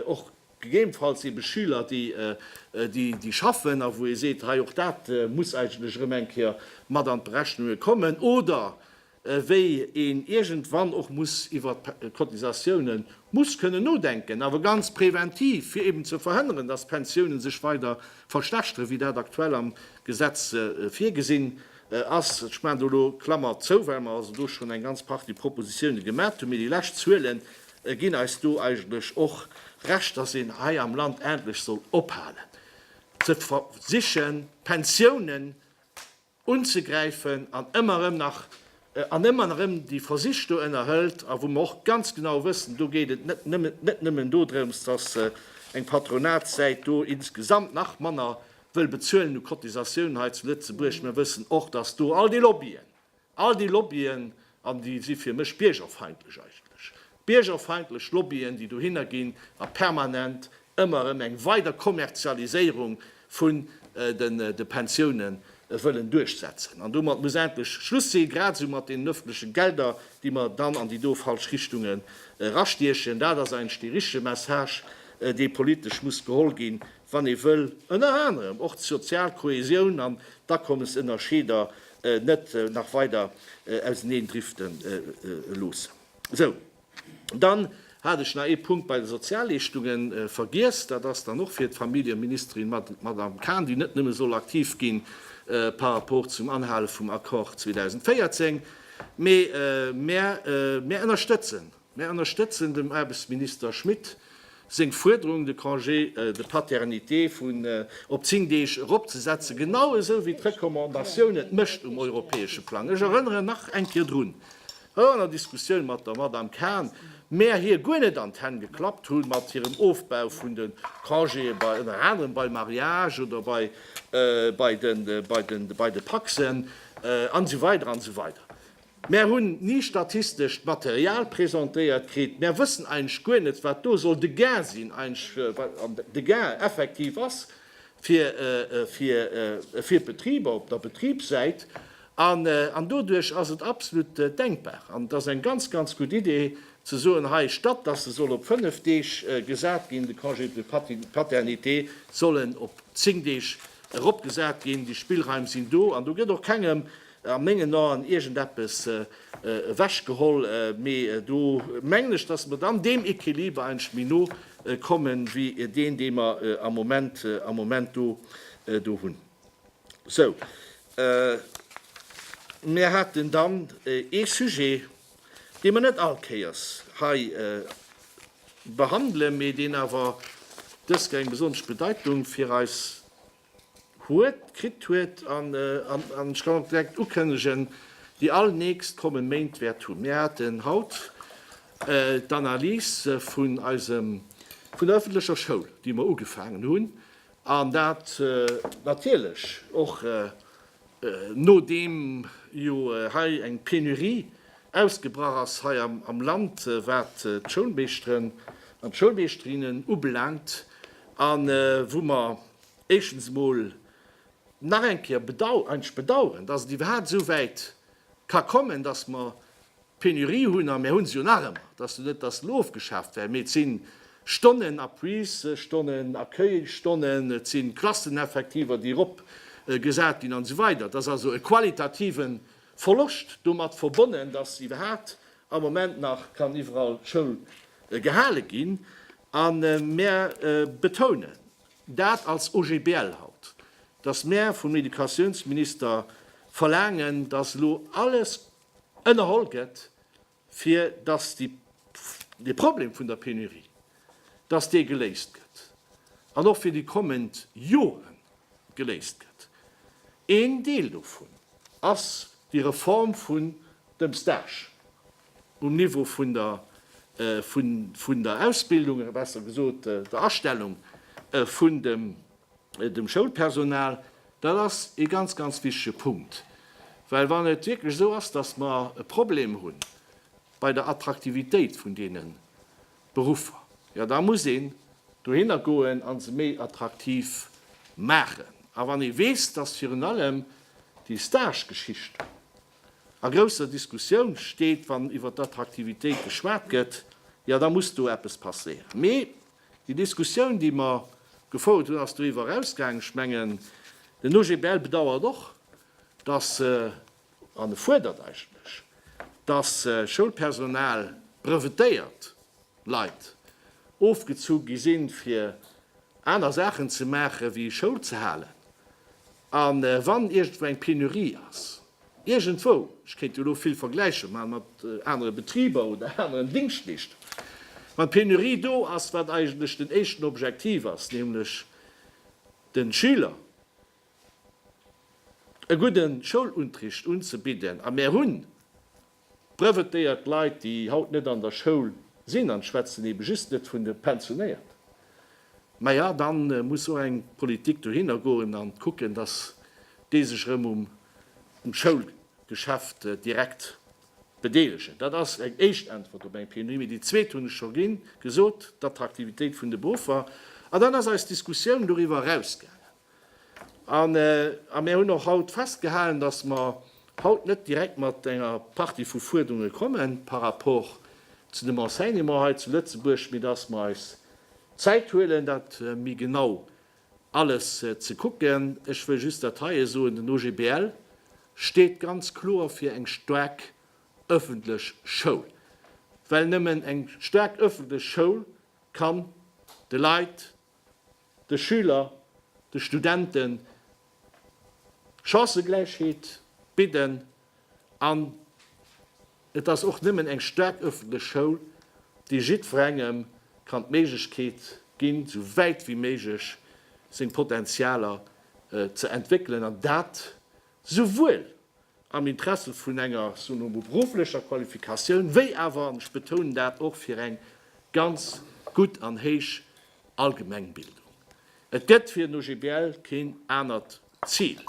och gegebenfalls eebe Schüler, déi schaffen a wou ee seet, hei och dat muss eigentlech erëm eng Kéier mat an d'Berechnunge kommen, oder wéi een iergendwann och muss iwwer d'Cotisatiounen muss kënnen nodenken, awer ganz präventiv, fir eben ze verhënneren, dass d'Pensiounen sech weider verschlechteren, wéi dat aktuell am Gesetz virgesinn ass. Ech maachen do elo Klammer zou, well mer also do schonn eng ganz Partie Propositiounen gemat hunn, mee déi lescht Zuele ginn eis do eigentlech och Recht, dass een hei am Land endlech soll ophalen ze versichen, d'Pensiounen unzegräifen an ëmmer erëm nach an ëmmer erëm déi Versich do ënnerhëlt a wou mer och ganz genau wëssen, do geet et net nëmmen net nëmmen dodrëms, dass eng Patronatssäit do insgesamt nach manner wëll bezuelen u Cotisatiounen hei zu Lëtzebuerg. Mer wëssen och, dass do all déi Lobbyen, all déi Lobbyen An déi si fir mech biergerfeindlech eigentlech. Biergerfeindlech Lobbyen, déi dohinner ginn a permanent ëmmer erëm eng weider Kommerzialiséierung vun de Pensiounen wëllen duerchsetzen. An domat muss endlech Schluss sinn, grad esou mat deenen öffentlechen Gelder, déi mer dann an déi do falsch Richtunge erastiechen. Dat ass eigentlech dee richtege Message, dee politesch muss geholl ginn, wann ee wëll ënner anerem och d'sozial Kohäsioun an d'Akommesënnerscheeder net nach weider auseneen drifte loossen. Esou, dann hat ech nach ee Punkt bei de Sozialleeschtunge vergiess, dat ass dann och fir d'Familljeministerin, d'Madame Cahn, déi net nëmme soll aktiv gi par rapport zum Anhale vum Accord 2014, mee mär ënnerstëtzen Mär ënnerstëtzen dem Aarbechtsminister Schmit seng Fuerderung, de Congé de paternité vun op zéng Deeg eropzesetzen, genau esou wéi d'Recommandatioun et mécht um europäesche Plang. Ech erënneren nach eng Kéier drun, och an der Diskussioun mat der Madame Cahen, mär hir guer net an d'Hänn geklappt hu mat hirem Ofbau vun de Congéë bei ënner anerem bei Mariage oder bei bei de bei de bei de Pacs'en an esou weider an esou weider. Mär hunn ni statistescht Material presentéiert kritt. Mär wëssen eigentlech guer net, wat do soll de Gain sinn, eigentlech wat de Gain effektiv ass fir fir d'Betriber op der Betribssäit. An an doduerch ass et absolut denkbar an et ass eng ganz, ganz gutt Idee ze soen, hei statt datt e soll op fënnef Deeg gesat ginn, de Congé de paternité, soll en op zéng Deeg eropgesat ginn. Déi Spillraim sinn do an do gëtt och kengem A mengen Aen iergendeppes ewechgeholl, mee do mengen ech, datt mer dann deem Equiliber eigentlech méi no kommen, wéi deen, dee mer am Moment, am Moment do, do hunn. Sou, mir haten dann ee Sujet, dee mer net all Kéiers hei behandelen, mee deen awer dës Kéier eng besonnesch Bedeitung fir eis huet, kritt huet, an ech kann och direkt ukënnegen, déi all nächst kommen Méint wäert hunn. Mir haten haut d'Analyse vun eisem, vun der öffentlecher Schoul, déi mer ugefaangen hunn, an dat natierlech och Nodeem jo hei eng Penurie ausgebrach ass hei am Land, wat d'Schoulmeeschteren an d'Schoulmeeschterinnen ubelaangt, a wou mer éischtens emol nach eng Kéier bedauern, dass et iwwerhaapt esou wäit ka kommen, dass mer D'Penurie hunn, a mär hunn se jo nach ëmmer, et ass jo net, datt se elo ofgeschaaft wären, mee et si Stonnen, Appuisstonnen, Accueilstonnen, et si Klasseneffektiver, déi eropgesat ginn an esou weider. Et ass also e qualitative Verloscht domat verbonnen, datt iwwerhaapt am Moment nach kann iwwerall Schoul gehale ginn. A mär betounen dat als OGBL haut, datt mär vum Educatiounsminister verlaangen, datt elo alles, ënnerholl gëtt, fir datt dee Problem vun der Penurie, datt dee geléist gëtt an och fir déi kommend Joren geléist gëtt. Een Deel dovun ass déi Reform vun dem Stage um Niveau vun der, vun der Ausbildung, oder besser gesot der Astellung vun dem dem Schoulpersonal, dat ass ee ganz, ganz wichtige Punkt. Well wann et wierklech esou ass, dass mer e Problem hu bei der Attraktivitéit vun deene Beruffer, jo da muss een dohinner goen a se méi attraktiv maachen. A wann ee weess, dass virun allem déi Stagegeschicht a grousser Diskussioun steet, wann iwwer d'Attraktivitéit geschwat gëtt, jo da muss do eppes passéieren. Déi Diskussioun, déi mer gefouert hunn, ass doriwwer erausgaangen. Ech mengen, den OGBL bedauert och, dass, an e fuerdert eigentlech, dass Schoulpersonal, brevetéiert Leit, ofgezu gi sinn, fir aner Saachen ze maachen, wéi Schoul ze halen, a wann iergendwou eng Penurie ass. Iergendwou, ech kéint jo elo vill Vergläiche maachen mat anere Betriber oder aneren Dingschtleeschter, wann d'Penurie do ass, wat eigentlech den éischten Objektiv ass, nämlech de Schüler e gudde Schouluntricht unzebidden, a mär hunn Trëfft déi alt Leit, déi haut net an der Schoul sinn, an schwätzen ebe just net vun de Pensionéiert, maja dann muss och eng Politik dohinner goen an kucken, dass déi sech erëm um Schoulgeschäft direkt bedeelegen. Dat ass eng éischt Äntwert op eng Penurie. Mee déi zweet hunn ech scho gesot, d'Attraktivitéit vun de Beruffer. An dann ass eis Diskussioun doriwwer erausgaangen, An mir hunn och haut festgehalen, dass mer haut net direkt mat enger Partie vu Fuerderunge komme par rapport zu dem Enseignement hei zu Lëtzebuerg, mee dass mer eis Zäit huelen, dat méi genau alles ze kucken. Ech wëll just dat heie soen, Den OGBL steet ganz kloer fir eng staark ëffentlech Schoul, well nëmmen eng staark ëffentlech Schoul kann de Leit, de Schüler, de Studenten Chancëgläichheet bidden an et ass och nëmmen eng staark ëffentlech Schoul, déi jiddwerengem kann d'Méiglechkeet ginn, esou wäit wéi méiglech seng Potentialer ze entwéckelen an dat souwuel am Interesse vun enger beruflecher Qualifikatioun, wéi awer, an ech betounen dat, och fir eng ganz gutt an héich Allgemengbildung. Et gëtt fir den OGBL keen anert Zil.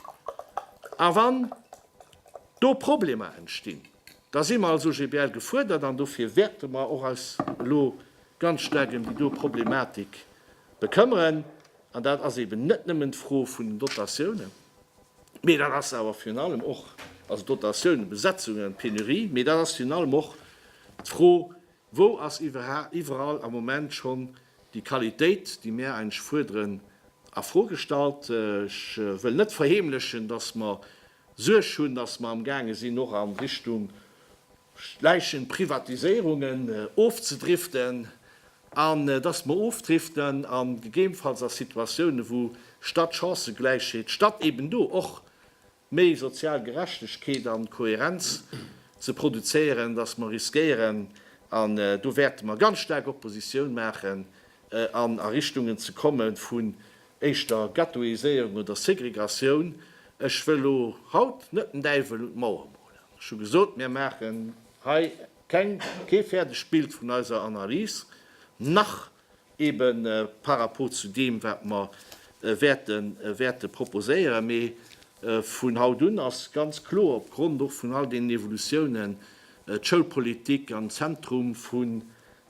A wann do Problemer entstinn, da si mer als OGBL gefuerdert, an dofir wäerte mer och eis elo ganz staark ëm déi do Problematik bekëmmeren. An dat ass eben net nëmmen d'Fro vun den Dotatiounen. Mee dat ass awer virun allem och, also Dotatiounen, Besetzungen, Pénurie, mee dat ass virun allem och d'Fro, Wou ass iwwerall am Moment schonn déi Qualitéit, déi mir eigentlech fuerderen, a Fro gestallt? Ech wëll net verheemlechen, dass mer Suerg hunn, dass mer amgaange sinn, och a Richtung Schläichen, Privatiséierungen ofzedriften. An dass mer ofdriften a gegebenfalls a Situatiounen, wou statt Chancëgläichheet, statt eben do och méi sozial Gerechtegkeet a Kohärenz ze produzéieren, dass mer riskéieren, an do wäerte mer ganz staark Oppositioun maachen, an a Richtungen ze komme vun éischter Ghettoiséierung oder Segregatioun. Ech wëll elo haut net den Däiwel un d'Mauer molen. Ech hu gesot, mir maachen hei Keng, kee fäerdegt Bild vun eiser Analys, nach ebe par rapport zu deem, wat mer wäerte, wäerte proposéieren. Mee vun haut un ass ganz kloer, opgrond och vun all deenen Evolutiounen, d'Schoulpolitik am Zentrum vun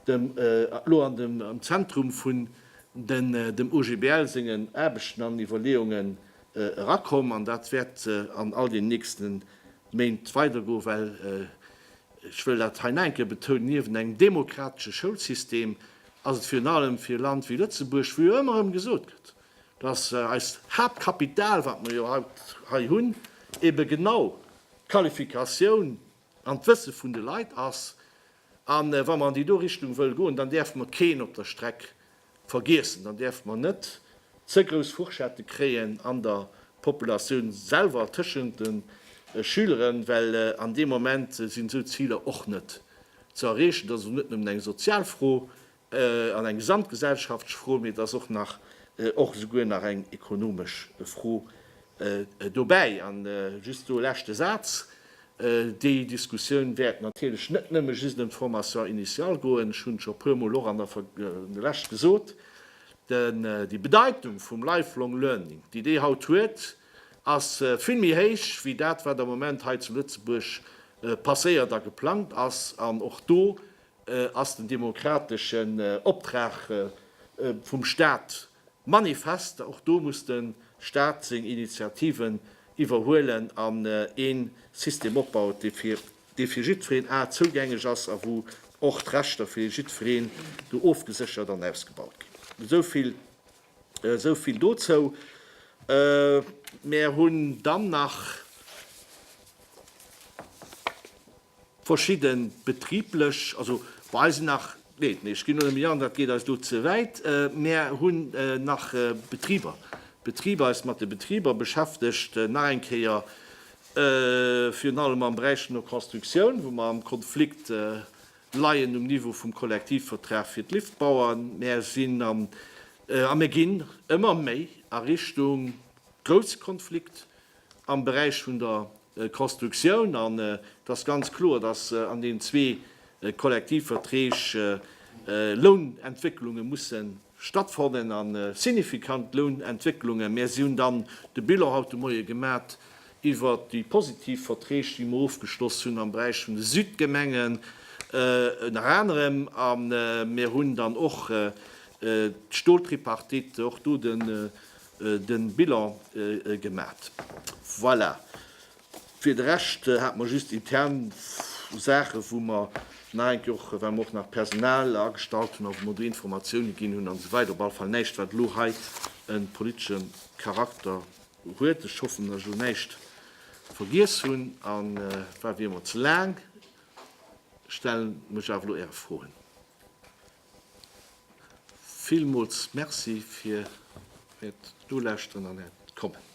dem, elo an dem, am Zentrum vun den, dem OGBL sengen Aarbechten an Iwwerleeungen erakomm. An dat wäert an all deenen nächsten Méint weidergoe well, ech wëll dat hei nach eng Kéier betounen, niewent engem demokratesche Schoulsystem ass et virun allem fir e Land wéi Lëtzebuerg, wou jo ëmmer erëm gesot gëtt, dass eist Haaptkapital, wat mer jo haut hei hunn, ebe genau d'Qualifikatioun an d'Wësse vun de Leit ass, A wa mer an déi do Richtung wëlle goen, dann däerfe mer keen op der Streck vergiessen, dann däerfe mer net ze grouss Fourchette kréien an der Populatioun selwer tëschent de Schüleren, well an deem Moment sinn esou Ziler och net ze erreechen. Dat ass also net nëmmen eng sozial Fro, an eng gesamtgesellschaftsch Fro, mee et ass och nach, och esouguer nach eng ekonomesch Fro dobäi. An just do e leschte Saz, Déi Diskussioun wäert natierlech net nëmme just ëm d'Formation initiale goen. Ech hunn et scho e puer Mol och an der lech gesot, Déi Bedeitung vum Lifelong Learning, déi déi haut huet, ass vill méi héich wéi dat, wat am Moment hei zu Lëtzebuerg passéiert a geplangt ass. An och do ass den demokrateschen Optrag vum Staat manifest. Och do muss de Staat seng Initiativen iwwerhuelen an een System opbauen, dee fir jiddwereen a zougänglech ass a wou och d'Rechter fir jiddwereen do ofgeséchert an ausgebaut ginn. Esou vill dozou. Mär hunn dann nach. Verschidde betriblech, also bei eis sinn nach, nee, ech ginn elo méi an, dat geet eis elo ze wäit, mär hunn nach Betriber, Betriber, eis mat de Betriber beschäftegt, nach eng Kéier, virun allem am Beräich vun der Constructioun, wou mer am Konflikt leien um Niveau vum Kollektivvertrag fir d'Liftbauern. Mär sinn am, a mir ginn ëmmer méi a Richtung grousse Konflikt, am Beräich vun der Constructioun, an et ass ganz kloer, dass an deenen zwee Kollektivverträg Lounentwécklunge musse stattfannen, a signifikant Lounentwécklungen. Mä si hunn dann de Bilan haut de Moie gemat iwwert déi positiv Verträg, déi mer ofgeschloss hunn am Beräich vun de Südgemengen ënner anerem, a mir hunn dann och d'Stoltripartite, och do de de Bilan gemat. Voilà. Fir de Rescht hate mer just intern Saachen, wou mer nach eng Kéier och, well mer och nach Personal agestallt hunn a wou mer do Informatioune ginn hunn an esou weider, op alle Fall näischt, wat elo hei e politesche Charakter huet. Ech hoffen, datt ech elo näischt vergiess hunn. A war wéi ëmmer ze laang. Ech stelle mech awer elo Äre Froen. Villmools Merci fir Äert Nolauschteren an Äert Kommen.